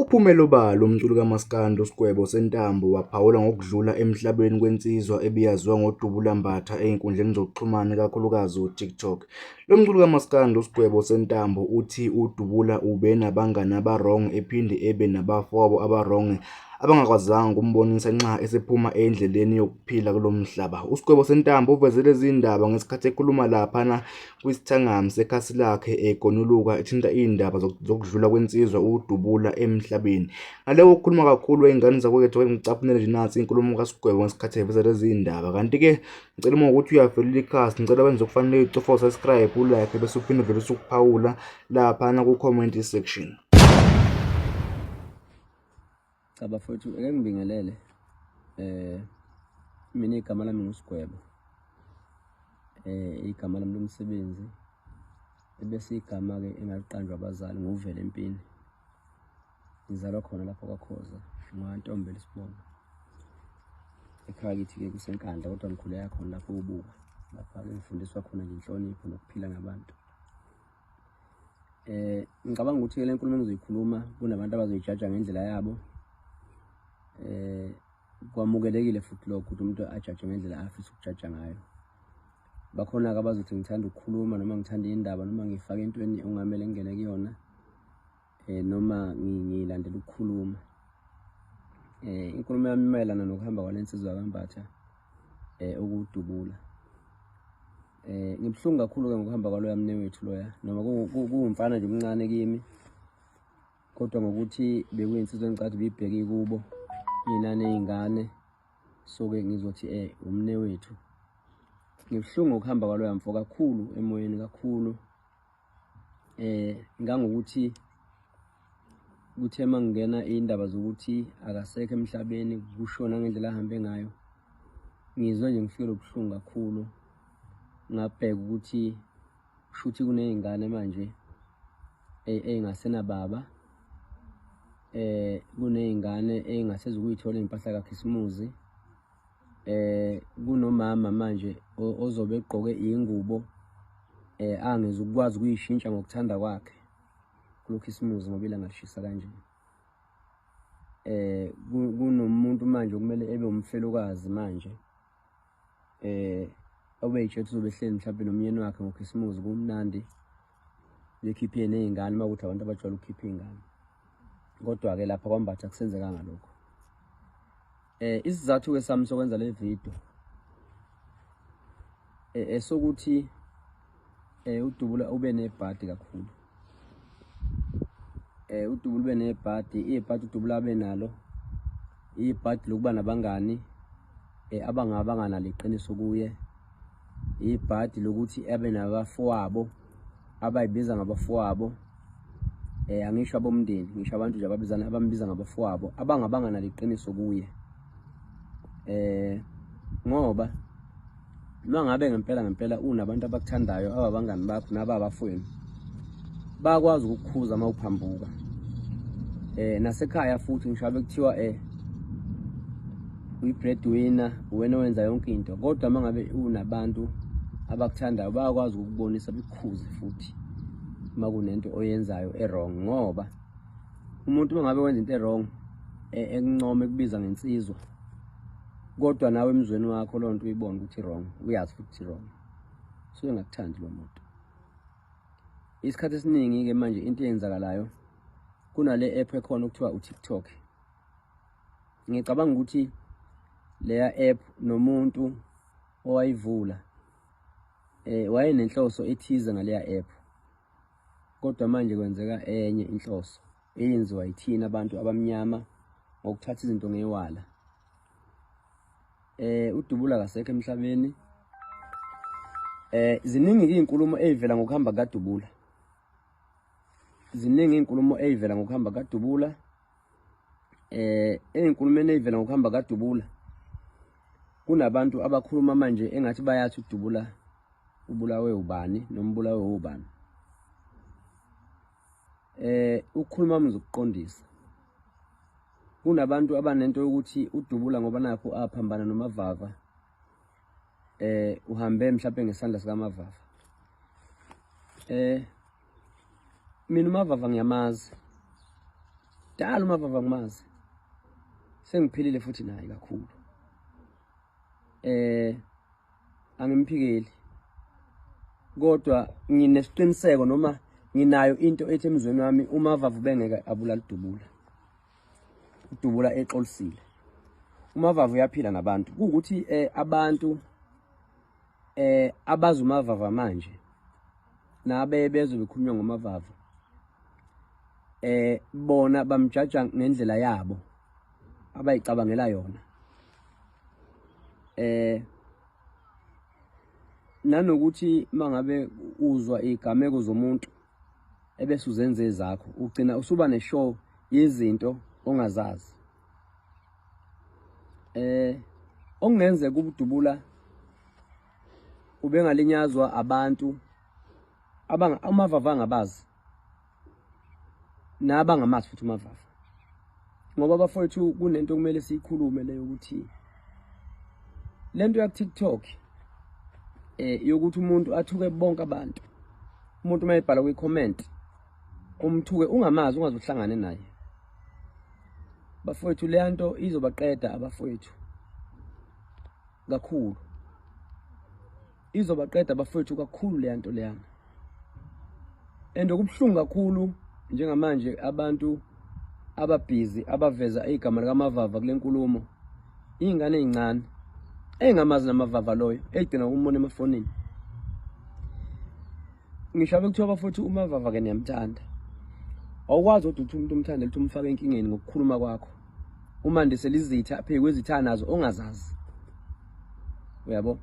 Uphumele obala umculi kamaskandi uSgwebo Sentambo waphawula ngokudlula emhlabeni kwensizwa ebiyaziwa ngodubula mbatha ezinkundleni zokuxhumana ikakhulukazi uTikTok. Lo mculi kamaskandi uSgwebo Sentambo uthi uDubula ube nabangani abarong ephinde ebe nabafowabo abarong abangakwazanga ukumbonisa nxa esephuma endleleni yokuphila kulo mhlaba. USgwebo Sentambo uveze lezi ndaba ngesikhathi ekhuluma laphana kwisithangami sekhasi lakhe egonuluka ethinta iy'ndaba zokudlula kwensizwa ukudubula emhlabeni ngale kokukhuluma kakhulu ey'ngane zakwethu ke ngicaphunele nje nansi inkulumo kasigwebo ngesikhathi eveza lezi y'ndaba kanti-ke ngicela uma ukuthi uyafelela ikhasi ngicela wenze okufanele ucofo subscribe ulike bese uphinde vele usukuphawula laphana ku-comment section Cha bafowethu ake ngibingelele eh mina igama lami nguSigwebo eh igama lami lomsebenzi ebese igama ke engaliqanjwa abazali nguvele empini ngizalwa khona lapho kwaKhoza ngwantombe lesibona ekhaya kithi ke kusenkandla kodwa ngikhuleka khona lapho ubuka lapha ke ngifundiswa khona ngenhlonipho nokuphila ngabantu eh ngicabanga ukuthi ke lenkulumo engizoyikhuluma kunabantu abazoyijaja ngendlela yabo eh kwamukelekile futhi lokho ukuthi umuntu ajaje ngendlela afisa ukujaja ngayo bakhona-ke abazothi ngithanda ukukhuluma noma ngithanda indaba noma ngifake entweni ongamele ngingene kuyona eh noma ngilandela ukukhuluma eh inkulumo yami imayelana nokuhamba kwalensizwa kambatha eh ukudubula eh ngibhlungu kakhulu ke ngokuhamba kwaloya mne wethu loya noma kuwumfana nje omncane kimi kodwa ngokuthi bekuyinsizwa engicathi bibheke kubo mina nezingane so ke ngizothi eh umne wethu ngibhlungu ukuhamba kwaloya mfo kakhulu emoyeni kakhulu eh ngangokuthi kuthe mangena indaba zokuthi akasekho emhlabeni kushona ngendlela ahambe ngayo ngizwe nje ngifikele ubuhlungu kakhulu ngabheka ukuthi shuthi kunezingane manje engasenababa eh kunezingane engasezukuyithola impahla kaKhisimuzi eh kunomama manje ozobe egqoke ingubo eh angeze ukwazi ukuyishintsha ngokuthanda kwakhe kulokhisimuzi ngoba ilanga lishisa kanje eh kunomuntu manje okumele ebe umfelokazi manje eh obeyitshethu uzobe ehleli mhlawumbe nomyeni wakhe ngokhisimuzi kumnandi bekhiphe nezingane uma ukuthi abantu abajwayele ukukhipha izingane kodwa ke lapha kwambatha kusenzekanga lokho eh isizathu ke sami sokwenza le video eh esokuthi eh udubula ube nebhadi kakhulu eh udubula ube nebhadi ibhadi udubula abe nalo ibhadi lokuba nabangani eh, abangaba nganaliqiniso kuye ibhadi lokuthi abe nabafowabo abayibiza ngabafowabo eh angisho abomndeni ngisho abantu nje ababizana abambiza ngabafowabo abangabanga naliqiniso kuye eh ngoba Noma ngabe ngempela ngempela unabantu abakuthandayo ababangani bakho nababafweni bakwazi ukukhuza uma uphambuka eh nasekhaya futhi ngisho bekuthiwa eh uyi-breadwinner uwena wenza yonke into kodwa uma ngabe unabantu abakuthandayo bayakwazi ukukubonisa bekukhuze futhi uma kunento oyenzayo e-wrong ngoba umuntu uma ngabe wenza into e-wrong e-, ekuncoma ekubiza ngensizwa kodwa nawe emzweni wakho loo nto uyibona ukuthi wrong uyazi futhi wrong suke ngakuthandi lo muntu isikhathi esiningi-ke manje into eyenzakalayo kunale app ekhona okuthiwa utiktok ngicabanga ukuthi leya app nomuntu owayivula eh wayenenhloso ethize ngaleya app kodwa manje kwenzeka enye inhloso eyenziwa yithina abantu abamnyama ngokuthatha izinto ngewala eh udubula kasekho emhlabeni eh ziningi izinkulumo ezivela ngokuhamba kadubula ziningi izinkulumo ezivela ngokuhamba kadubula eh ezinkulumeni ezivela ngokuhamba kadubula kunabantu abakhuluma manje engathi bayathi udubula ubulawe ubani nombulawe ubani eh ukhuluma umzi ukuqondisa kunabantu abanento yokuthi udubula ngoba nakho aphambana nomavava eh uhambe mhlawumbe ngesandla sikamavava eh mina umavava ngiyamazi dala umavava ngimazi sengiphilile futhi naye kakhulu eh angimphikeli kodwa nginesiqiniseko noma nginayo into ethi emzweni wami uma vavu bengeke abulala udubula udubula exolisile uma vavu uyaphila ngabantu kuwukuthi eh, abantu eh abazi umavava manje nabe bezwe bekhulunywa ngomavava eh bona bamjaja ngendlela yabo abayicabangela yona eh nanokuthi mangabe uzwa igameko zomuntu ebese uzenze ezakho ugcina usuba neshow yezinto ongazazi eh okungenzeka ubudubula ubengalinyazwa abantu abanga amavava angabazi naba ngamazi futhi uMavafa ngoba bafowethu kunento kumele siyikhulume leyo ukuthi lento ya TikTok eh yokuthi umuntu athuke bonke abantu umuntu mayebhala kwi comment umthuke ungamazi ungaze uhlangane naye bafowethu le nto izobaqeda abafowethu kakhulu izobaqeda bafethu kakhulu leya nto leyana and okubuhlungu kakhulu njengamanje abantu ababhizi abaveza igama likamavava kule nkulumo iy'ngane ey'ncane engamazi namavava loyo egcina umbona emafonini ngisho abekuthiwa bafuthu umavava-ke niyamthanda awukwazi kodwa ukuthi umuntu umthande lithi umfake enkingeni ngokukhuluma kwakho uma ndisela izitha phekwe izitha nazo ongazazi uyabo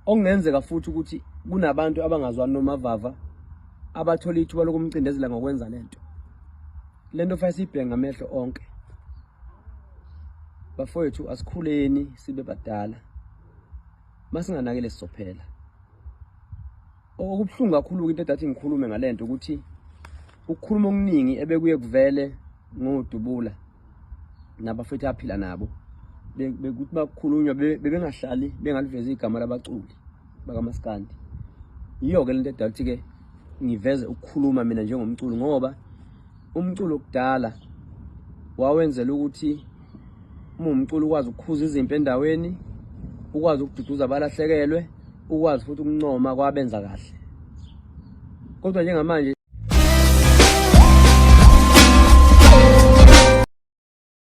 okungenzeka futhi ukuthi kunabantu abangazwani nomavava abathola ithuba lokumcindezela ngokwenza lento lento fanele siyibhenga amehlo onke bafowethu asikhuleni sibe badala masinganakele sizophela Okubuhlungu kakhulu-ke into edathi ngikhulume ngale nto ukuthi ukukhuluma okuningi ebekuye kuvele ngodubula nabafethu aphila nabo bekuthi bakukhulunywa bebengahlali bengalivezi igama labaculi bakamaskandi yiyo-ke le nto edala ukuthi-ke ngiveze ukukhuluma mina njengomculi ngoba Umculo kudala wawenzela ukuthi uma umculo ukwazi ukukhuza izimpi endaweni ukwazi ukududuza abalahlekelwe ukwazi futhi ukuncoma kwabenza kahle kodwa njengamanje